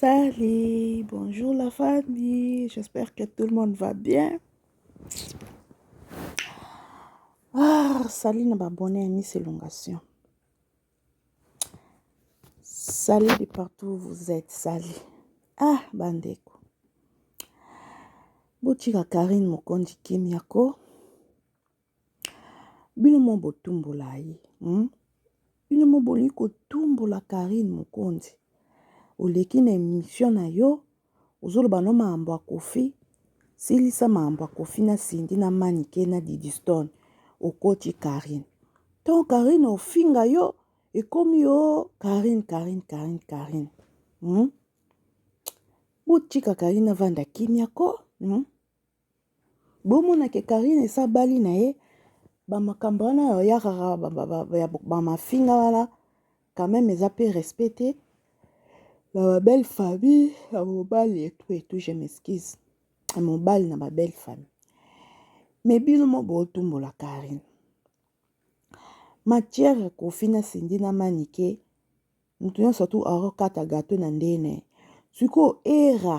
Salut, bonjour la famille, j'espère que tout le monde va bien. Ah, salut na babonne à Miss Elongation. Salut de partout où vous êtes, salut. Ah, bandeko. Botika Karine Mokondi Kimiako. Bino moko botumbola ye hum bino moko bolingi kotumbola Carine Mokonzi oleki na emission na yo ozoloba na yo makambo ya Koffi silisa makambo ya Koffi na Cindy na Manike na Didi Stone okoti Carine tango Carine akofinga yo ekomi ooh Carine Carine Carine Carine hum botika Carine avanda kimia koo hum. Bomona ke carine esi abali na ye ba makambo wana ya oya kaka ya ba mafinga wana quand meme eza pe respect te na ba belle famille ya mobali et tout et tout je m'excuse ya mobali na ba belle famille mais bino moko bo tumbola carine matière ya koffi na cindy na manike mutu nionso tout azo kata gateau na ndenge na ye sikoyo erra.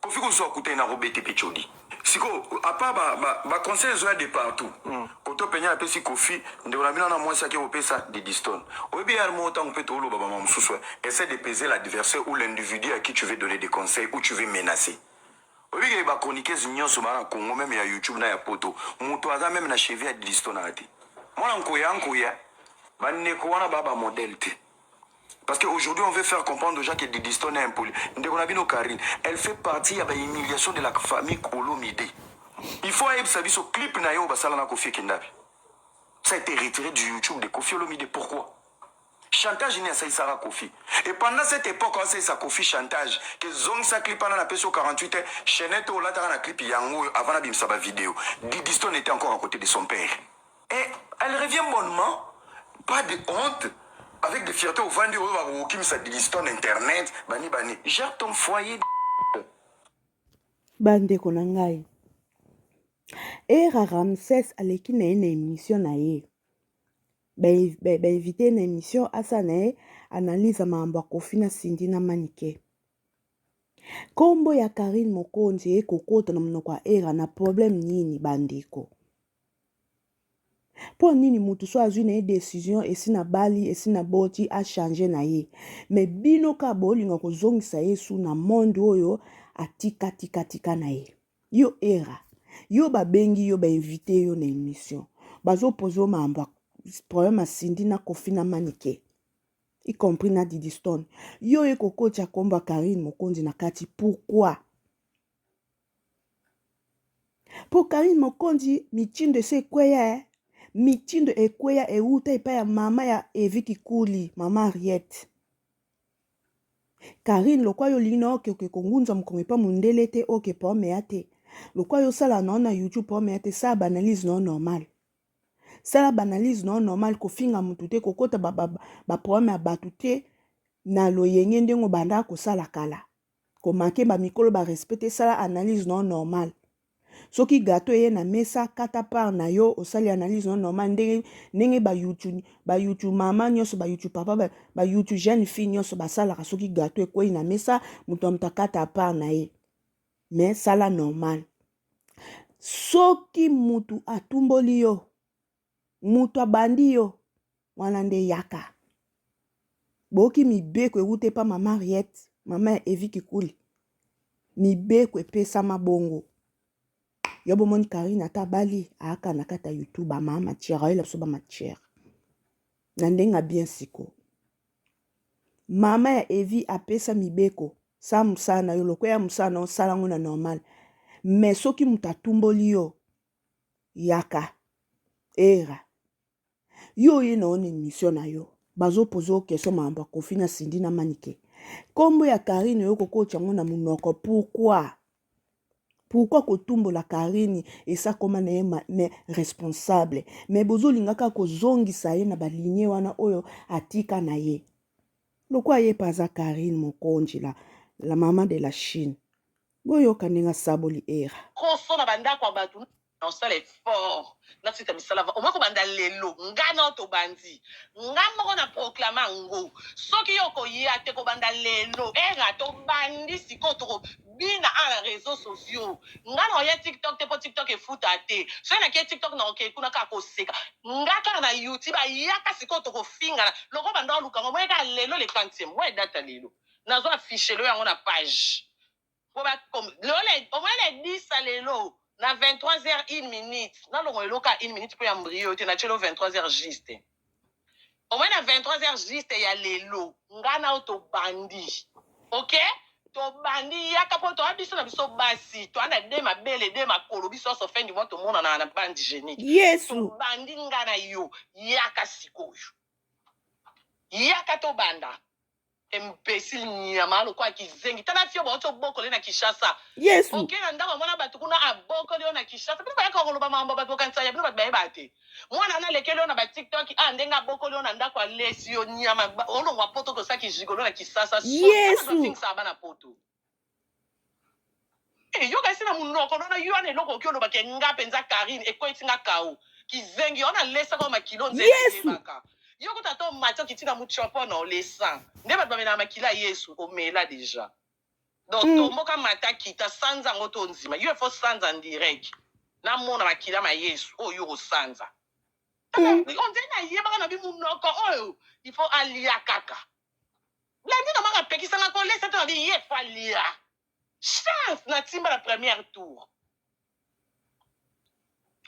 Koffi kusu akutani na Robete pe Chodi. Siko apa ba ba, ba conseils ezoya de partout. Mm. Koto penya apesi Koffi ndeko na bino na mwasi ake kopesa Didistone. Oyebi yar moko tango pe toloba ba mama mususu essaie de peser l'adversaire ou l'individu à qui tu veux donner des conseils ou tu veux menacer. Oyebi ke ba chroniqueuses nyonso ba na Congo meme ya YouTube na ya Poto mutu aza meme na cheville ya Didistone aza te. Mwana nkoya nkoya. Ba ndeko wana ba ba modèle te. Parce que aujourd'hui on veut faire comprendre aux gens que Didistone est impoli. Ndeko na bino Karine, elle fait partie ya ba humiliation de la famille Kolomide. Il faut ayebisa biso clip na yo basala na Kofi Kindabi. Ça a été retiré du YouTube de Kofi Olomide. Pourquoi Chantage ni asaisaka Kofi. Et pendant cette époque, on sa Kofi chantage. Que zong sa clip en a peso 48 et Chenette ou la clip yango avant la bimsa ba vidéo. Didistone était encore à côté de son père. Et elle revient bonnement, pas de honte, avec des fiertés au vandi, au vandi, au kim sa diliston internet, bani bani, gère ton foyer. Bande konangai. Era Ramses aleki na ye na émission na ye. bainvite ye na émission asala na ye analyse ya makambo ya kofi na sindi na manike nkombo ya karine mokonzi eye kokota na monoko ya era na problème nini bandeko Po nini mutu soki azui naye decision esi na bali esi na boti a change naye mais bino ka bolinga kozongisa ye su na monde oyo atika tika tika naye yo era yo ba bengi yo ba invite yo na emission bazo poser yo mambo problème ya Cindy na Koffi na Manike y compris na Didistone yo oye kokotia kombo ya Carine Mokonzi na kati pourquoi? Po Carine Mokonzi mitindo esi ekweya eh. Mitindo ekweya ewuta epai ya mama ya Evi Kikuli, mama Henriette. Carine lokwa yo olingi na oke oke kongunza mokongo epa mundele te oke po omeya te. Lokwa yo sala na ona YouTube po omeya te sala banalyse na normal. Sala banalyse na normal kofinga mutu te kokota ba ba ba problème ya batu te na loyenge ndenge obanda kosala kala. ko manquer ba mikolo ba respect te sala analyse na yo normal soki gateau eye na mesa kata part na yo osali analyse na yo normal ndenge ndenge ba yutu ba yutu mama nyonso ba yutu papa ba, ba yutu jeune fille nyonso basalaka soki gateau ekwei na mesa moto ya moto akata part na ye mais sala normal soki mutu atumboli yo moto abandi yo wana nde yaka boyoki mibeko ewuta epa mama ariete mama ya evi kikuli mibeko epesama bongo yo bomoni karine ata abali aaka na kati ya youtube amaa matière ayela biso bamatière na ndenge abien siko mama ya evi apesa mibeko sa mosala na yo lokola ya mosala na osala yango na normal me soki moto atumboli yo yaka era yo oye na yo na emission na yo bazopoza yo question makambo ya kofi na sindi na manike nkombo ya karine oyo kokotya yango na monoko pourkui pourkui kotumbola karine esakoma na ye me responsable me bozolinga kaka kozongisa ye na balinie wana oyo atika na ye lokola ye mpe aza karine mokonji la, la mama de la chine Boyoka ndenge asaboli Erra. Koso na ba ndako ya batu na osala effort na site ya misala va omoi kobanda lelo nga nao tobandi nga moko na proclama yango soki yo okoya te kobanda lelo Erra tobandi sikoyo toko bina a na reseaux sociaux nga nao ya tiktok te po tiktok efuta te soki na ke tiktok nao ke kuna kaka koseka nga kaka na youtba yaka sikoyo toko fingana lokola banda oluka nga omoni kaka lelo le quantième oe date ya lelo. Nazo afficher le yo yango na page po ba com lelo na omoni na edisa ya lelo na 23 heures une minute na longola eloko ya une minute po ya mbrie yo te na tieli yo 23 heures juste omoni na 23 heures juste ya lelo nga na yo tobandi ok tobandi yaka po toa biso na biso basi toa na de mabele de makolo biso nyonso fin du mois tomonana na bande genique yesu tobandi nga na yo yaka sikoyo yaka tobanda Imbecile nyama lokola kizengi tala fio bauti obokole na Kinshasa. Yesu. Oke na ndako ya mwana bato kuna abokoli yo na Kinshasa. Bino bayaka koloba makambo bato bokanisa ya bino bato bayeba te. Mwana wana alekeli yo na ba TikTok ah ndenge abokoli yo na ndako alesi yo nyama olongwa poto kosa kijigolo na Kinshasa. Yesu. Ozingisa bana poto. Eh, yoka esi na munoko nono yo wana eloko oki oloba ke nga penza Carine ekweyisi nga kao kizengi yo wana lesaka yo makilo nzela Yesu. eyebaka yo kutu ata omati okiti na mutshopo na olesa nde batu bamelaka makila ya Yesu omela deja donc Mm. tomboka mata kita sanza yango to nzima yo il faut sanza en direct na mona makila ma Yesu oyo yo okosanza Mm. on dirait nayebaka na bi munoko oyo il faut alia kaka Blandi nomanga apekisanga ko lesa to abi ye fally a chance na timba na première tour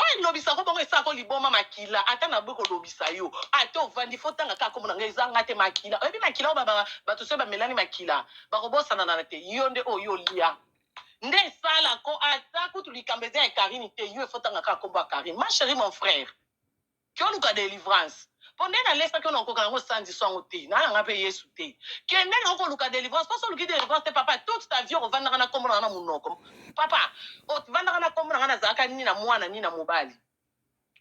oyo elobisa ko bongo esala ko liboma makila ata na boyi kolobisa yo ata ovandi fo tanga kaka kombo na nga eza nga te makila oyebi makila oyo baba bato soki bamelani makila bakobosananana te yo nde oyo olia nde esala ko ata kutu likambo eza ya karini te yo efo tanga kaka kombo ya karini ma cherie mon frère Yo luka delivrance po nde na lesaki yo na koka nango sanzi swango te na nanga pe yesu te kende nango koluka delivrance po so oluki delivrance te papa toute ta vie okovandaka na kombo nanga na munoko papa ovandaka na kombo nanga nazalaka ni na mwana ni na mobali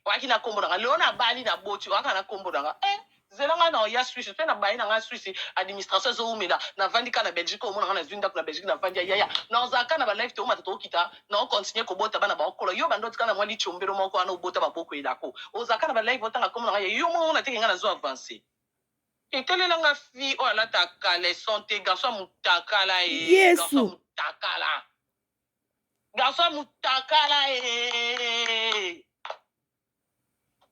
oyaki na kombo nanga lelo na bali na boti oyaka na kombo nanga eh Zela nga nao ya suisse pe na baye na nga suisse administration ezo wumela na vandi ka na Belgique omona nga na zui ndaku na Belgique na vandi ya yaya nao zala ka na ba live toomata too kita nao continue ko bota bana bao kola yo banda otika na mwa litshiombelo moko wana obota ba boko elako ozala ka na ba live otanga kombo na nga ya yo moko omona te ke nga nazo avance te talela nga fille oyo alata caleçon te garçon ya mutakala ee garçon ya Yesu. mutakala garçon ya mutakala ee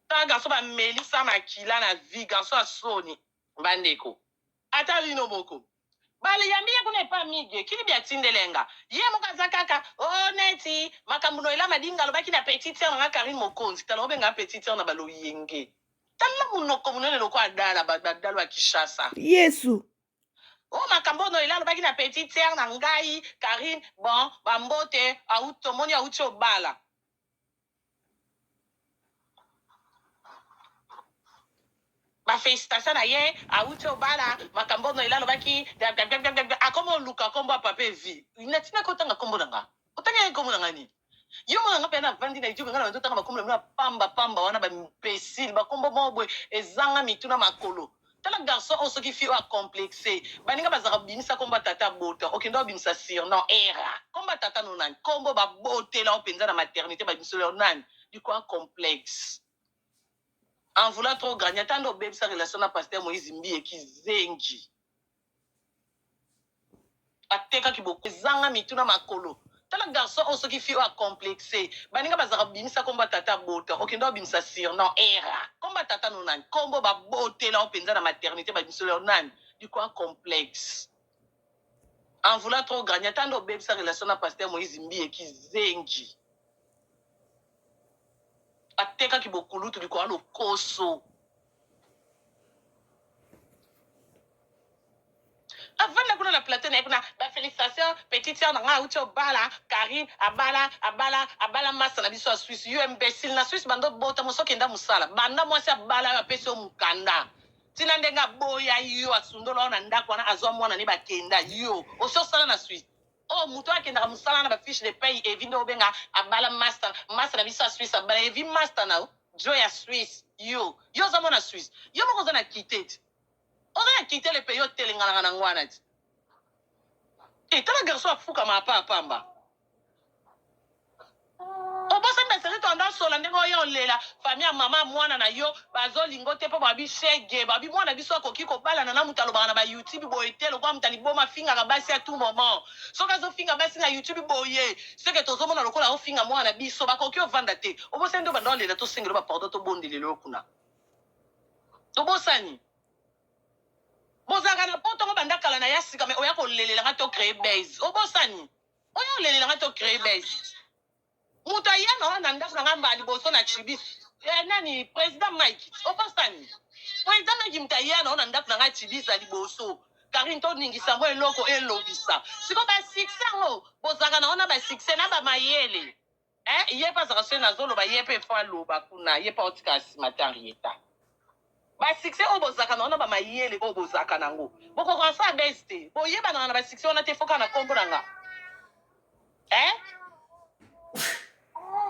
Tala garçon ba melisa makila na vie garçon ya soni. Ba ndeko ata bino moko ba yambi ye kuna epa migue ki libya tindelenga ye moko aza kaka ooh neti makambu na ela madinga alobaki na petit sœur na nga carine mokonzi tala obenga petit sœur na ba loyenge tala munoko munene lokola dala ba dalu ya kishasa yesu. Oh makambo oyo noela alobaki na petite sœur na ngai Carine bon ba mbote awuti tomoni awuti obala ba felicitation na ye awuti obala makambo noel alobaki blablabla akomi oluka kombo ya papa evi natina ko tanga kombo na nga otanga ye kombo na nga nini yo mona nga mpe na vandi na etiope nga na bando tanga bakombo na bino ya pamba pamba wana ba imbecile bakombo moko boye ezanga mitu na makolo Tala garçon oyo soki fille oyo a complexe baninga bazalaka bimisa kombo ya tata abota okenda obimisa surnom erra kombo ya tata no nani kombo ba botela yo penza na maternite ba bimisela yo nani dikua complexe en voulant trop grandi ata nde obebisa relation na pasteur moise mbiye kizengi. Atekaki boko ezanga mitu na makolo tala garçon oyo soki fille oyo a complexe baninga bazalaka bimisa kombo ya tata abota okenda obimisa surnom erra kombo ya tata no nani kombo ba botela yo penza na maternite ba bimisela yo nani dikua complexe en voulant trop gagner ata nde obebisa relation na pasteur moise mbiye kizengi atekaki bokulutu likoya lokoso. avanda kuna na plateau na ye kuna ba felicitation petite sœur na ngai auti obala carine abala abala abala masta na biso ya suisse yo imbecile na suisse banda obota mosi okenda mosala banda mwasi abala yo apesi yo mokanda ntina ndenge aboya yo asundola yo na ndako wana azwa mwana ne bakenda yo osi osala na suisse Oh mutu oyo akendaka musala na ba fiche de paye Evi nde obenga abala masta masta na biso ya Suisse abala Evi masta na yo djo ya Suisse yo yo oza mwana Suisse yo moko oza na kite ti oza na kite le pays otelenganaka nango wana ti e tala garçon afukama apa pamba Obosani na serie tendance sola ndenge oye olela famille ya maman ya muana na yo bazo linga yo te po balobi chegue balobi muana biso akoki ko balana na mutu alobaka na ba youtube boye te lokola mutu ya liboma afingaka basi a tout moment soki azo finga basi na youtube boye ce que tozo mona lokola azo finga muana na biso bakoki yo vanda te obosani nde obanda olela to sengela yo ba pardon to bondelela yo kuna tobosani bozalaka na poto ngo banda kala na ya sika mais oya ko lelela nga to cree base obosani Oya kolelela nga to cree buzz. Mutu ayano awa na ndaku na nga mbala liboso na chibi eh, nani president Mike obosani? President Mike mutu ayano na ndaku na nga chibi za liboso Carine to ningisa mwa eloko elobisa siko ba succès yango bozalaka na ngo na ba succès na ba mayele Eh ye pe azaka soki nazo loba ye pe faut aloba kuna ye pe aotika ya sima te Henrietta ba succès oyo bozalaka na ngo na ba mayele oyo bozalaka na ngo bokoka kosala buzz te boyebanaka na ba succès wana te faut kaka na kombo na nga eh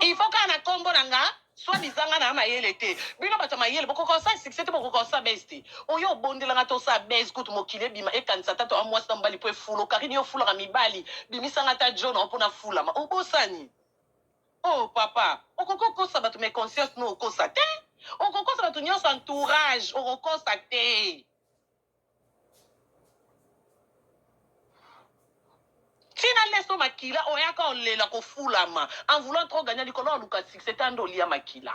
il faut kaka na kombo na nga Soit disant nga na mayele te. Bino bato ya mayele bokoka kosala succès te bokoka kosala buzz te. Oya obondela nga te osala buzz kutu mokili ebima ekanisa ata toa mwasi na mobali po efulu. Carine yo ofulaka mibali bimisa nga ata djo na yo po nafulama. Obosani? Oh papa okoki okosa bato mais conscience no okosa te. Okokosa bato nionso entourage okokosa te. Ti na leso makila oyaka olela kofulama en voulant trop gagna likolo ya koluka succès ta nde olia makila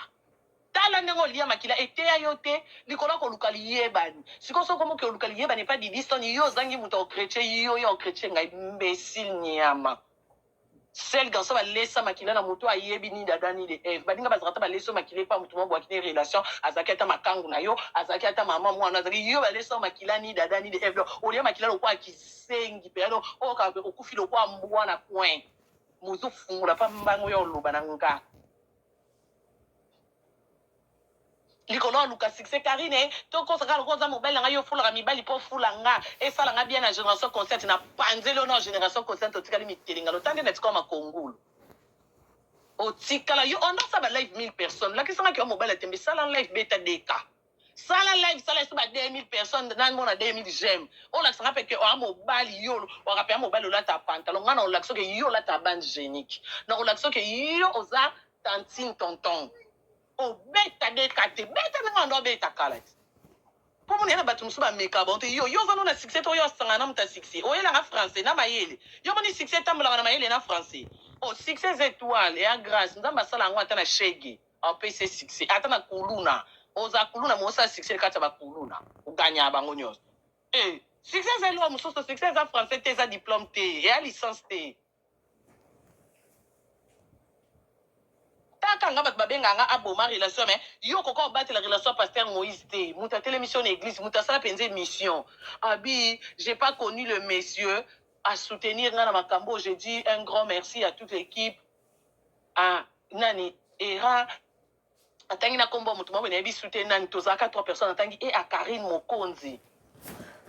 tala ndenge olia makila eteya yo te likolo ya koluka liyebani sikoyo soki okomi okoluka liyebani epa didistone yo ozangi mutu ako cretche yo yo ako cretche ngai imbecile niama. Seul garçon ba lesa makila na moto ayebi ni Adam ni le Eve baninga bazalaka ata ba lesa yo makila epa moto moko boyaki naye relation azalaki ata makangu na yo azalaki ata maman muana azalaki yo ba lesa yo makila ni Adam ni le Eve donc olia makila lokola kizengi mpenza donc oyoka okufi lokola mbwa na coin mozo fungola pa mbango ya oloba na nga. likolo aluka succès carine to kosa kaka lokola oza mobali na nga yo ofulaka mibali po ofula nga esala nga bien na generation consciente na panzeli yo nao generation consciente otikali mitelengano ta nde na tika yo makongulu otikala yo onda sa ba live 1000 personnes lakisa nga kiwa mobali atembe sala live beta deka sala live sala esi ba 2000 personnes na mona 2000 j'aime olakisa nga pe ke oa mobali yo waka pe mobali olata pantalon nga na olakisa ke yo olata bande genique na olakisa ke yo oza tantine tonton Obeta beta te beta ndenge banda obeta kala ti po mona yena batu musu ba meka bango te yo yo oza no na succès to yo asangana na mutu ya succès oyelaka français na mayele yo moni succès etambolaka na mayele na français oh succès eza etoile ya grace nzambe asala yango ata na shegue apesi ye succès ata na kuluna oza kuluna mais osala succès na kati ya ba kuluna oganya bango nionso eh succès eza eloko mosusu succès eza français te eza diplome te eya licence te Kaka nga batu babenga nga aboma relation mais yo okoka kobatela relation ya pasteur Moïse te mutu atelemisi yo na eglise mutu asala penza emission abi j'ai pas connu le monsieur a soutenir nga na makambu oyo je dis un grand merci à toute l'equipe à nani Erra Atangi na kombo ya mutu moko mais nayebi su te nani tozalaka trois personnes atangi et à Carine Mokonzi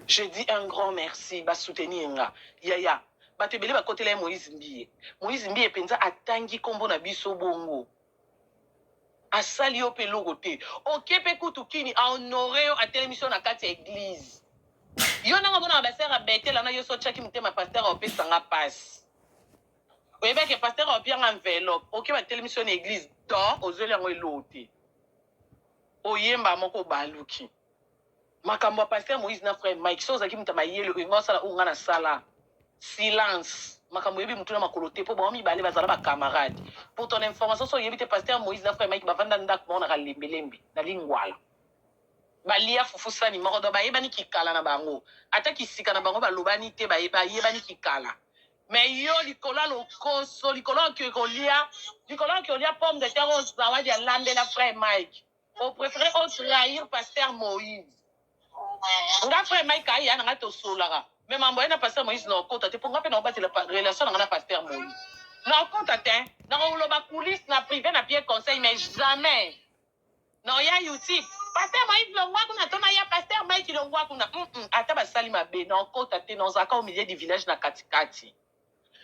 je dis un grand merci ba soutenir nga yaya batu ebele bakotela ye Moïse Mbiye Moïse Mbiye penza atangi kombo na biso bongo asali yo pe eloko te oke pe kutu kini a honore yo atelemisi yo na kati ya eglise yo ndenge omonaka ba sœur ya Bethel wana yo so otiaki motema pasteur opesa nga pasi Oyebi ke pasteur opia nga enveloppe oke ba telemisi yo na eglise donc ozweli yango eloo te oyemba moko obaluki makambo ya pasteur Moïse na frère Mike so ozalaki moto ya mayele olinga osala oyo nga na sala silence makambo oyebi motu na makolo te po bango mibale bazala ba camarade pour ton information so oyebi te pasteur Moïse na frère Mike bavanda ndako moko na kalembelembe na lingwala balia fufu sani moko donc bayebani kikala na bango ata kisika na bango balobani te bayebani kikala Mais yo likolo ya lokoso likolo ya ke kolia likolo ya ke olia pomme de terre oyo zawadi alambela frère Mike o prefere o trahir pasteur Moïse nga frère Mike aya na nga tosolaka mais mambo ya na pasteur Moïse na okota te po nga pe na obatela relation na nga na pasteur Moïse na okota te na koloba coulisse na prive na pie conseil mais jamais Na oya youtube pasteur moise longua kuna to na ya pasteur mike longua kuna humm ata ba sali mabe na okota te na ozalaka au milieu du village na kati kati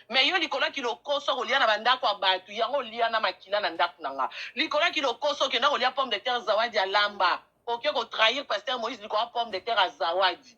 mais yo likolo ya ki lokoso ya kolia na ba ndaku ya batu yango olia na makila na ndaku na nga likolo ya ki lokoso okenda kolia pomme de terre zawadi alamba oke ko trahir pasteur moise likolo ya pomme de terre ya zawadi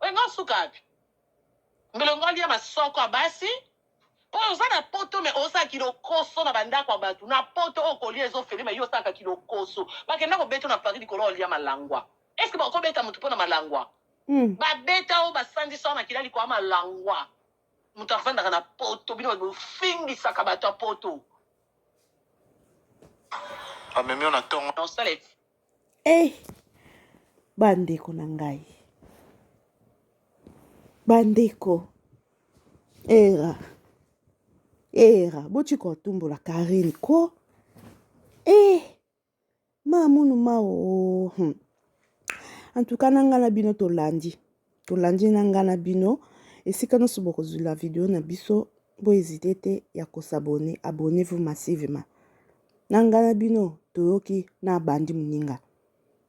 Oyo nga suka wapi? Mbele ngo alia masoko ya basi po oza na poto mais ozosala kilokoso na bandako ya batu na poto oyo kolia ezo fele mais yo osalaka kilokoso bakenda kobeta yo na paris likolo ya kolia malangwa est ce que bakoki kobeta mutu po na malangwa Mm. babeta yo basandisa yo na kila likolo ya malangwa mutu afandaka na poto bino bofingisaka bato ya poto amemi yo na tongo na osala Hey, eh, bandeko na ngai bandeko era era botika otumbola karine ko e eh, mamunu mao hmm. antuka na ngai na bino tolandi Tolandi na nga na bino esika nyonso bokozwila video na biso bo ezite te ya kosabone abone vous massivement na nga na bino toyoki na bandi moninga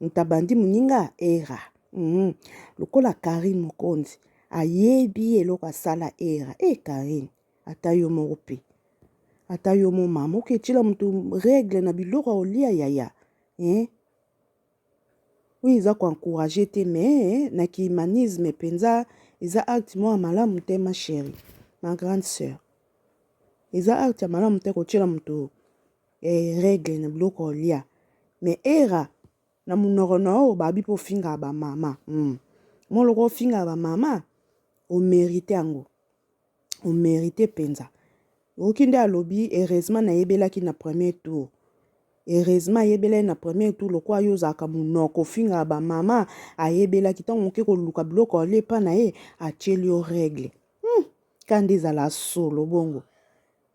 ntabandi moninga era mm. lokola karine mokonzi ayebi eloko asala era e eh, karine ata yo moko mpe ata yo mo mama oketyela moto regle na biloko ya olia yaya eh? Oyo eza ko encourager te mais na ki humanisme penza eza acte moko ya malamu te ma cherie, ma grande sœur. Eza acte ya malamu te kotiela moto regle na biloko ya kolia mais erra na monoko na yo obabi mpe ofingaka ba mama, moko lokola ofingaka ba mama o merite yango. o merite penza oki nde alobi heureusement nayebelaki na premier tour heureusement ayebelaki na premier tour lokola yo ozalaka monoko ofingaka bamama ayebelaki ntango moke koluka biloko alie epa na ye atieli yo règle hmm. ka nde ezala solo bongo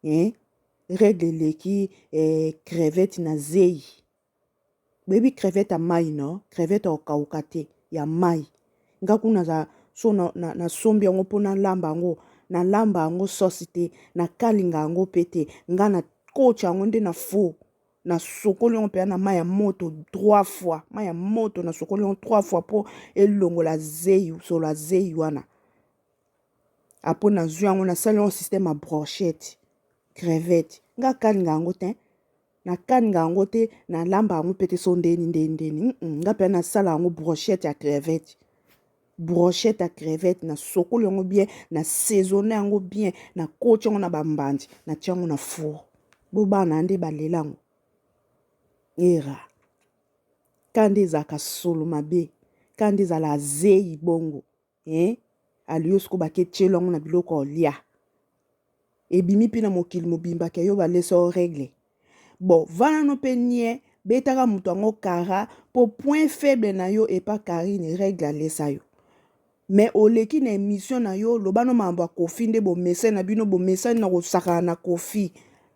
eh? règle eleki eh, crevete na zeyi Boyebi crevette ya mayi no? Crevette ya kokauka te, ya mayi. Nga kuna naza so na, na, na sombi yango mpo nalamba yango, nalamba yango sosi te, nakalinga yango mpe te. Nga na kotya yango nde na four, nasokoli yango mpenza na mayi ya moto trois fois, mayi ya moto nasokoli yango trois fois mpo elongola zeyi, solo ya zeyi wana. apo nazwi yango nasali yango système ya brochette crevette nga kaningaka yango te nakaningaka yango te nalamba yango mpe te so ndeni ndeni ndeni nga mpe nasala yango brochette ya crevette brochette ya crevette nasokoli yango bien na saisonne yango bien nakoti yango na bambandi natya yango na four bo bana nde balela yango era ka nde ezalaka solo mabe ka nde ezalaka zeyi bongo Ee, alio sikoyo bake tyelo yango na biloko ya olia. Ebimi mpe na mokili mobimba ke yo baleso o regle. Bo vana no mpe nie, betaka moto yango kara mpo point faible na yo epa Carine regle alesa yo. Mais oleki na emission na yo, loba no makambo ya Koffi nde bomesani na bino, bomesani na kosakana na Koffi.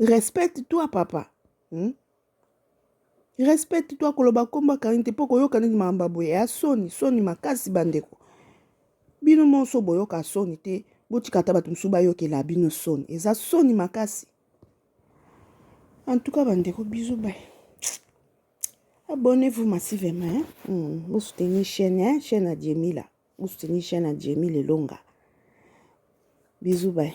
respecte toi papa hmm? respecte toi koloba nkombo akangi te mpo koyoka nini makambo boye ya soni soni makasi bandeko bino monso boyoka soni te botika ata bato mosusu bayokela bino soni eza soni makasi en tout cas bandeko bizu bai abonnez-vous massivement hein? mm, bosoutenir chaîne hein? chaîne ya jemila bosoutenir chaîne ya jemila elonga bizu bai